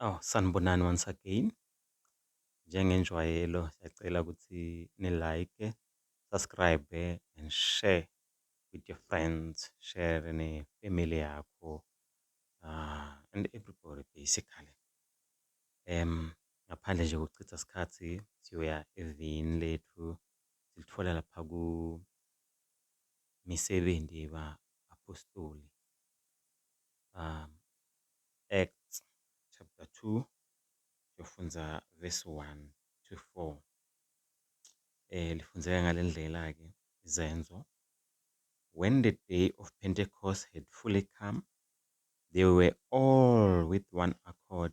Oh, sanibonani once again. Njengenjwayelo siyacela ukuthi ni-like, subscribe and share with your friends, share ne-family yakho uh, and everybody basically. Um, ngaphandle nje kokuchitha isikhathi siyoya evini lethu silithola lapha ku Misebenzi yeba Apostoli um, Acts chapter 2 siyofunza verse 1 to 4 eh lifunzeka ngalendlela ke izenzo when the day of Pentecost had fully come they were all with one accord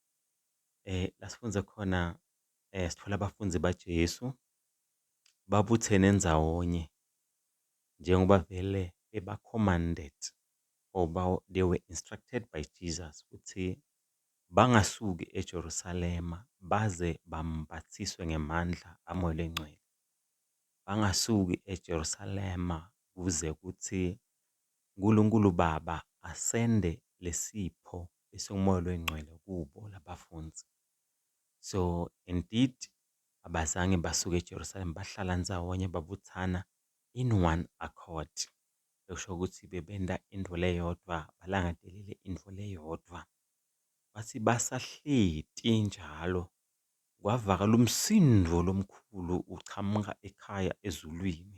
Eh, la sifunde khona eh, sithola abafundi baJesu babuthene ndzawonye njengoba vele beba-commanded or ba- they were instructed by Jesus ukuthi bangasuki eJerusalema baze bambathiswe ngemandla amoya lengcwele. Bangasuki eJerusalema kuze kuthi uNkulunkulu Baba asende lesipho bese umoya loyingcwele kubo labafunzi so indeed abazange basuke eJerusalem bahlala nzawonye babuthana in one accord ekusho ukuthi bebenda into leyodwa balangadelele into leyodwa bathi basahleti njalo kwavakala umsindo lomkhulu uchamuka ekhaya ezulwini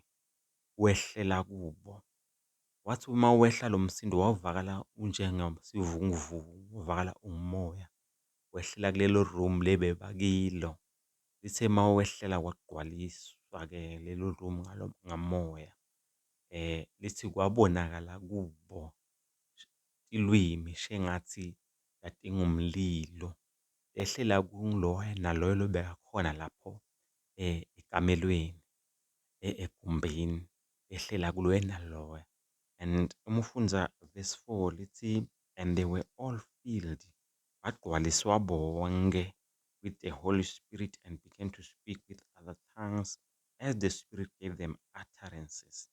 wehlela kubo Wathi uma wehla lo msindo wawuvakala unjengesivunguvungu, wavakala umoya. Wehlela kulelo room le bebakilo. Lithe uma wehlela kwagqwaliswa-ke lelo room ngalo ngamoya. Lithi kwabonakala kubo ilwimi shengathi ladinga umlilo. Lehlela kuloya naloya obekakhona lapho ekamelweni egumbini. behlela kuloya naloya and uma ufunda verse 4 lithi and they were all filled bagcwaliswa bonke with the Holy Spirit and began to speak with other tongues as the Spirit gave them utterances.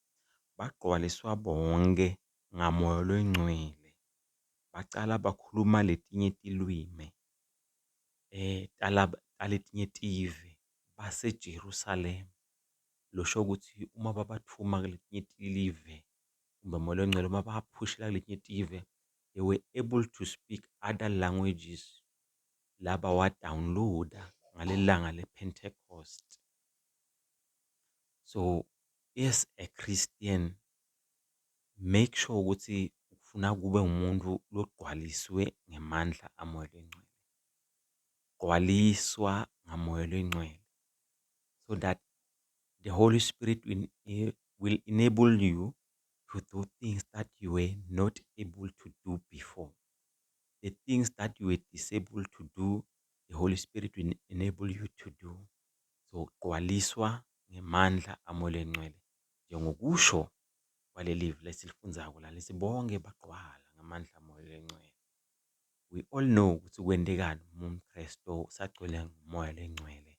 Bagcwaliswa bonke ngamoya lwengcwele bacala bakhuluma letinye tilwimi eh taletinye tive baseJerusalema. lusho ukuthi uma babathuma kwelinye ilive kumbe umoya ongcwele uma baphushela kwelinye itive they were able to speak other languages laba wadawuniloda ngaleli langa lepentecost so as a christian make sure ukuthi ufuna kube umuntu logqwaliswe ngamandla amoya lengcwele gqwaliswa ngamoya lengcwele so that the Holy Spirit will, eh, will enable you to do things that you were not able to do before. The things that you were disabled to do, the Holy Spirit will enable you to do. So, gqwaliswa ngemandla amole ngcwele. Njengokusho kwaleli vesi lifundzako la lesi bonke bagqwala ngamandla amole ngcwele. We all know ukuthi kwendekani uma umKristu sagcwele ngomoya lengcwele.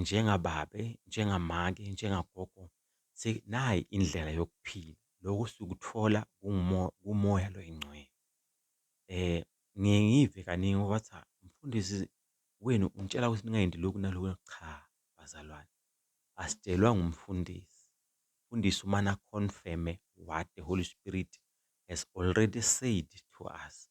njengababe, njengamake, njengagogo nayi indlela yokuphila. Loko sikuthola kuMoya lo oyiNgcwele. Ngiye ngive kaningi uma kuthiwa umfundisi wenu unitshela ukuthi ningayendi lokhu nalokhu, cha bazalwane, asitshelwa ngumfundisi. Umfundisi umane a-confirm-e what the Holy Spirit has already said to us.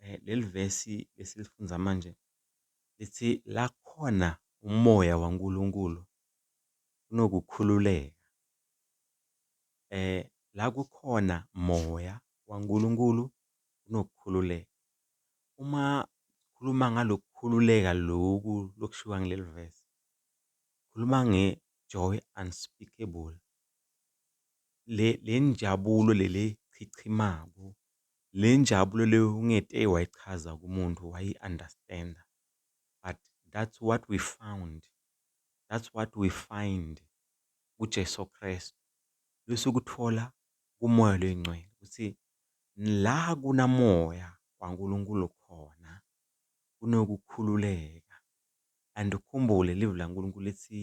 um leli vesi esilifunda manje lithi lakhona umoya waNkulunkulu kunokukhululeka. Um la kukhona moya waNkulunkulu kunokukhululeka. Uma khuluma ngalokukhululeka loku lokushiwa ngileli vesi, khuluma nge-joy unspeakable, le le njabulo leli echichimako Le njabulo le ungete wayichaza kumuntu wayi understander but that's what we found that's what we find ku Jesu Kristu lo sikuthola ku Moya loyingcwele ukuthi la kuna Moya wa Nkulunkulu khona kunokukhululeka and ukhumbule livi la Nkulunkulu lithi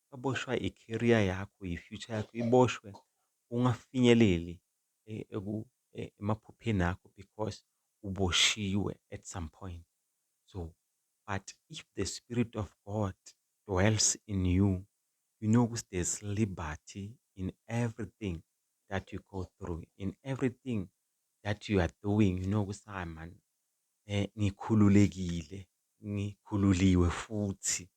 baboshwa i career yakho i future yakho iboshwe ungafinyeleli emaphupheni akho because uboshiwe at some point so but if the spirit of God dwells in you you know ukuthi there's liberty in everything that you go through in everything that you are doing you know ukuthi hayi man um ngikhululekile ngikhululiwe futhi.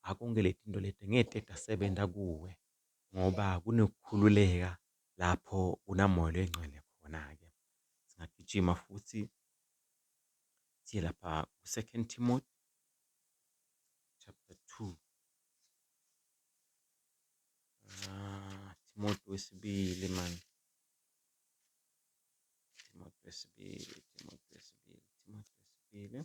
Ngakho konke le tinto leti ngeke tetasebenta kuwe ngoba kunekukhululeka lapho kunaMoya loyiNgcwele khona-ke. Singagijima futhi siye lapha ku-Second Timothy chapter 2. Ah, Timothy wesibili mani. Timothy wesibili, Timothy wesibili, Timothy wesibili.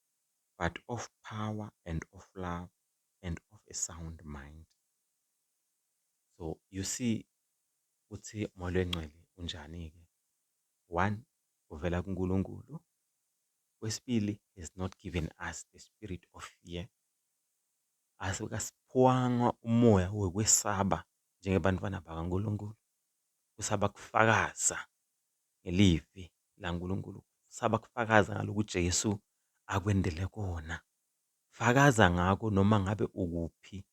but of power and of love and of a sound mind so you see ukuthi umoya oyingcwele unjani ke one uvela kuNkulunkulu kwesibili has not given us the spirit of fear asikasiphwanga umoya wokwesaba njengebantwana bakaNkulunkulu kusaba kufakaza ngelivi laNkulunkulu, saba kufakaza ngalokhu uJesu akwendele kona. Fakaza ngako noma ngabe ukuphi,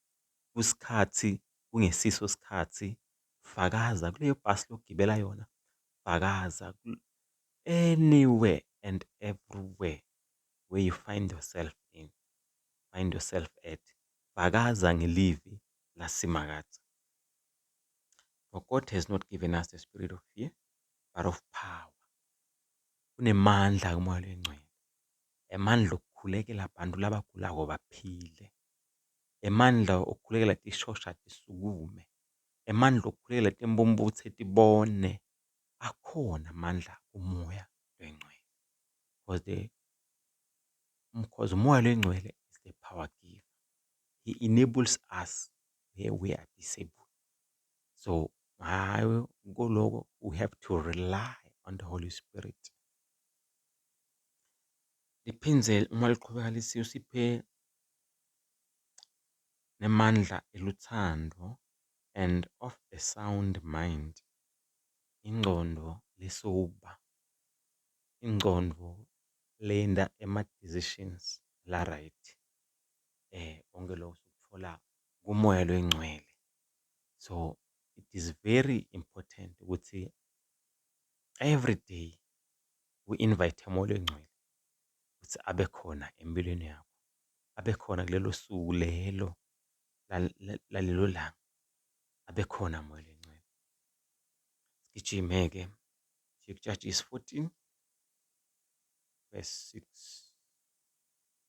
kusikhathi, kungesiso sikhathi, fakaza kuleyo bhasi lokugibela yona, fakaza anywhere and everywhere where you find yourself in, find yourself at, fakaza ngelivi laSimakadze. For God has not given us the spirit of fear, but of power. Kunemandla kumoya lengcwele. Emandla okukhulekela abantu labagulako baphile. Emandla okukhulekela tishosha tisukume. Emandla okukhulekela timbumbutse tibone. Akhona amandla kumoya lengcwele. Because the because umoya lengcwele is the power giver. he enables us where we are disabled. So ngayo kuloko we have to rely on the Holy Spirit. Liphinde uma liqhubeka lisiyo siphe nemandla eluthando and of a sound mind. Ingcondo lesoba. Ingcondo lenda ema-decisions la-right. konke lokho sikuthola kumoya loyingcwele so it is very important ukuthi every day we invite umoya loyingcwele ukuthi abe khona empilweni yakho abe khona kulelo suku lelo lalelo langa abe khona moya loyingcwele sigijime-ke Judges 14 verse 6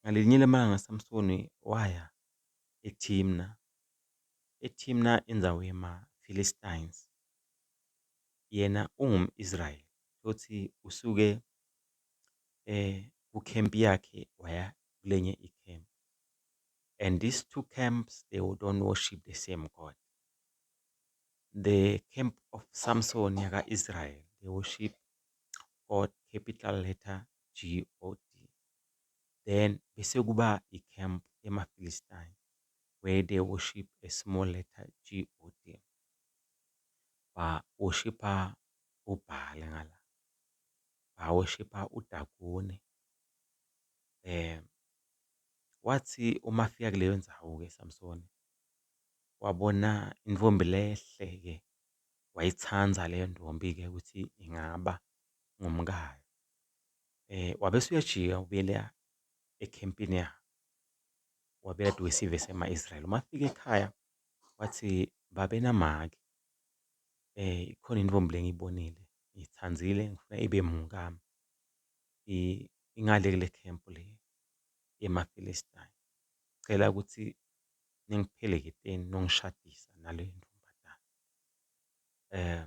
Ngalinye ilanga Samsoni waya eThimna, eThimna indzawo yemaPhilistines, yena ungum-Israyeli futhi usuke kukhempi yakhe waya kulenye ikhempi and these two camps they don't worship the same God. The camp of Samsoni yaka-Israyeli they worship God capital letter GOD then bese kuba i camp ema Philistine where they worship a small letter GOD ba worshipa u Baal ngala ba worshipa u Dagone um wathi uma fika kuleyo ndzawo ke Samsoni wabona intfombi lehle ke wayitsandza leyo ntfombi ke ukuthi ingaba ngumkayo. Eh wabese uyajika ubuyela ekhempini yakhe. Wabuyela kade wesive sema-Israel. Uma afika ekhaya wathi babe namake. Eh ikhona intombi lengiyibonile ngiyithandile ngifuna ibe mngami. I- ingale kule camp le yemaFilistine. Ngicela ukuthi ningipheleketeni nongishadisa nale ntombazane. Eh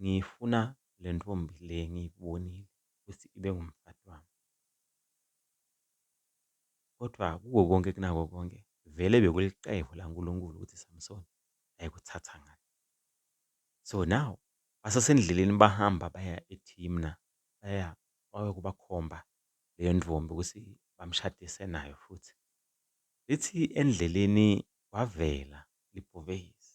ngiyifuna le ntombi le ngiyibonile ukuthi ibe ngumfati wami. Kodwa kuko konke kunako konke, vele bekulicebo laNkulunkulu ukuthi Samsoni ayekuthatha ngale. So now basasendleleni bahamba baya eThimna, baya bayokubakhomba leyo ntombi ukuthi bamshadise nayo futhi. Lithi endleleni kwavela libhubesi.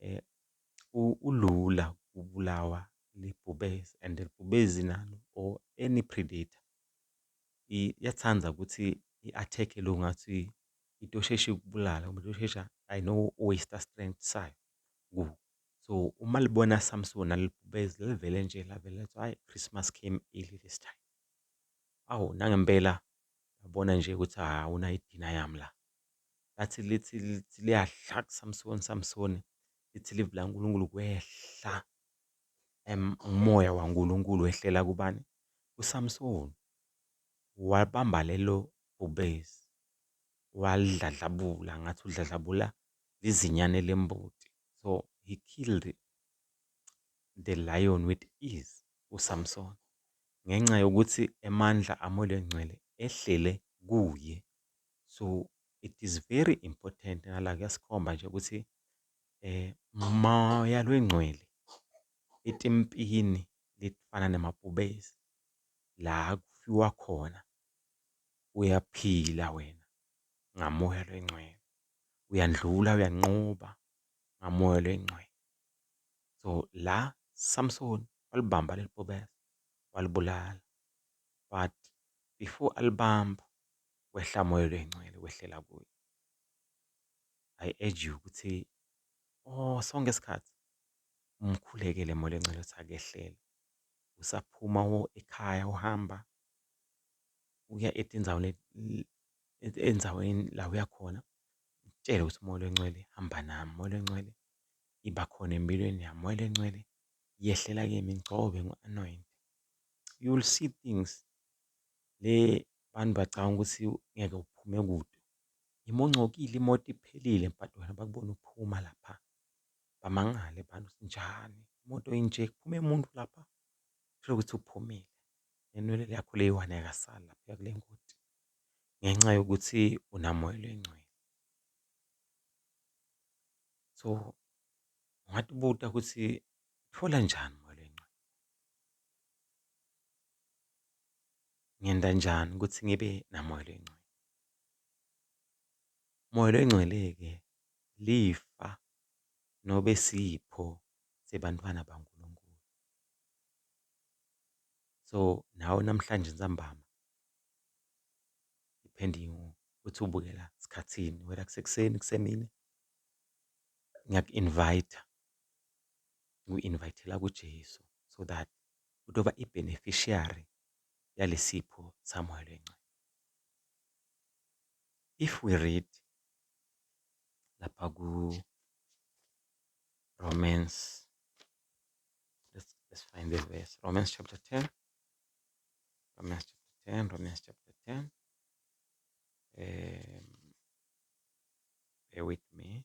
eh, ulula kubulawa libhubesi and libhubezi nalo or any predator iyathanda ukuthi i-attack lo ngathi into osheshe ikubulala uma ushesha i know waste strength sayo ku so uma libona samsona nalibhubezi livele nje lavele lithi hayi christmas came early this time awu nangempela yabona nje ukuthi awunayo idina yami la Lathi lithi lithi liyadla kuSamsoni, Samsoni, lithi ilizwi likaNkulunkulu kwehla umoya waNkulunkulu wehlela kubani? KuSamsoni. Walibamba lelo bhubesi, walidladlabula ngathi udladlabula izinyane lembuti. So he killed the lion with ease uSamsoni ngenxa yokuthi amandla aMoya oNgcwele ehlele kuye. So it is very important nala kuyasikhomba nje ukuthi eh moya lwengcwele etimpini lifana nemabhubesi la kufiwa khona uyaphila wena ngamoya lwengcwele uyandlula uyanqoba ngamoya lwengcwele so la Samson walibamba lelibhubesi walibulala but before alibamba Kwehla Moya Oyingcwele wehlela kuye. I urge you ukuthi or sonke isikhathi umkhulekele Moya Oyingcwele ukuthi akehlele. Usaphuma ekhaya uhamba uya etinzaweni endaweni la uya khona mtshele ukuthi Moya Oyingcwele hamba nami, Moya Oyingcwele iba khona empilweni yami, Moya Oyingcwele yehlela kimi ngigcobe ngu-anoyinte. You will see things Le bantu bacabanga ukuthi ngeke uphume kude. Imongcokile imoto iphelile but wena bakubona uphuma lapha. Bamangale abantu ukuthi njani imoto inje kuphume muntu lapha uthole ukuthi uphumile nenwele yakho le eyi-one ayikasali lapha kule moti ngenxa yokuthi unamoyila oyingcwele. So ungathi ubuta ukuthi thola njani . Ngenta njani ukuthi ngibe naMoya loyiNgcwele? Moya loyiNgcwele-ke lifa nobe sipho sebantwana baNkulunkulu. So, nawe namhlanje nsambama depending ukuthi ubukela sikhathini, whether kusekuseni, kusemini, ngiyaku-invayitha, ngiku-invayithela kuJesu so that utoba i beneficiary yalesipho saMoya loyiNgcwele. If we read lapha ku Romans let's, let's find the verse Romans chapter 10 Romans chapter 10 Romans chapter 10 um, bear with me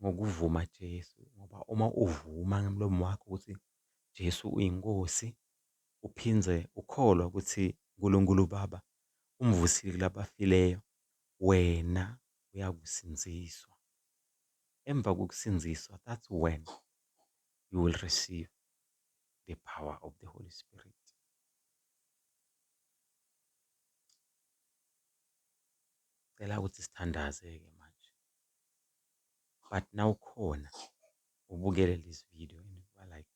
ngokuvuma Jesu ngoba uma uvuma ngemlomo wakho ukuthi Jesu uyinkosi uphinde ukholwa ukuthi uNkulunkulu uBaba umvusile kulabafileyo wena uyakusindziswa emva kokusindziswa that's when you will receive the power of the Holy Spirit cela ukuthi sithandaze ke but nawukhona ubukele this video and uba like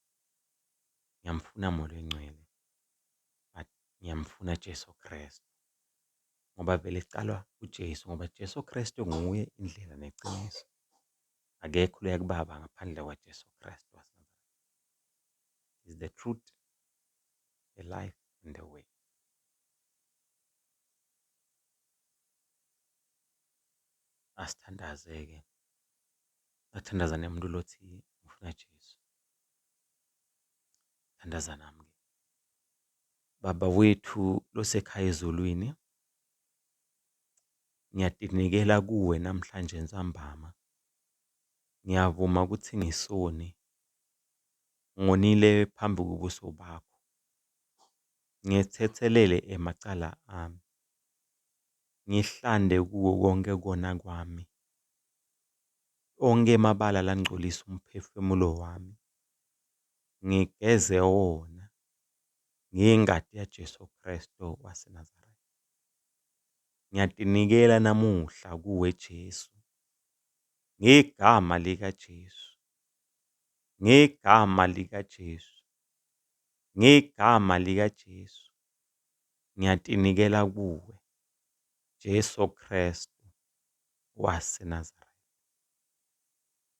ngiyamfuna moya oyingcwele but ngiyamfuna Jesu Kristu ngoba vele kuqalwa uJesu ngoba Jesu Kristu nguye indlela neqiniso akekho loya kubaba ngaphandle kwaJesu Kristu is the truth the life and the way asithandaze-ke, bathandaza nomuntu lo othi ufuna Jesu. Thandaza nami-ke. Baba wethu lo osekhaya ezulwini, ngiyadinikela kuwe namhlanje nsambama. Ngiyavuma ukuthi ngisoni, ngonile phambi kobuso bakho, ngithethelele emacala ami. Ngihlande kuwo konke kona kwami. Onke emabala langcolisa umphefemulo wami. Ngigeze wona ngengati ya Jesu Kristo wase Nazareth. Ngiyatinikela namuhla kuwe Jesu. Ngegama lika Jesu. Ngegama lika Jesu. Ngegama lika Jesu. Ngiyatinikela kuwe, Jesu Kristu wase Nazareth.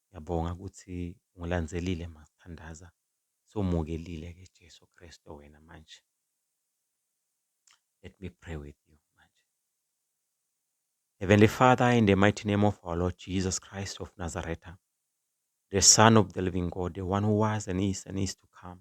Ngiyabonga ukuthi ungilandzelile masithandaza, sewumukelile ke Jesu Kristu wena manje. Let me pray with you manje. Heavenly Father, in the mighty name of our Lord Jesus Christ of Nazareth, the Son of the living God, the one who was and is and is to come,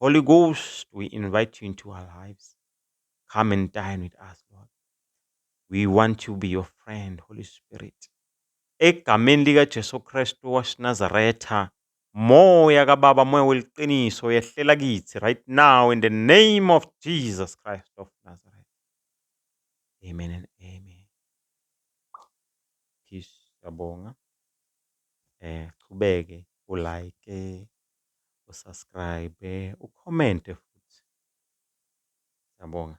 Holy Ghost, we invite you into our lives. Come and dine with us, Lord. We want to be your friend, Holy Spirit. Egameni lika Jesu Kristu waseNazaretha, moya kaBaba, moya weliqiniso yehlela kithi right now in the name of Jesus Christ of Nazareth. Amen and amen. Peace, yabonga. Eh, qhubeke ulike u subscribe u comment futhi. Siyabonga.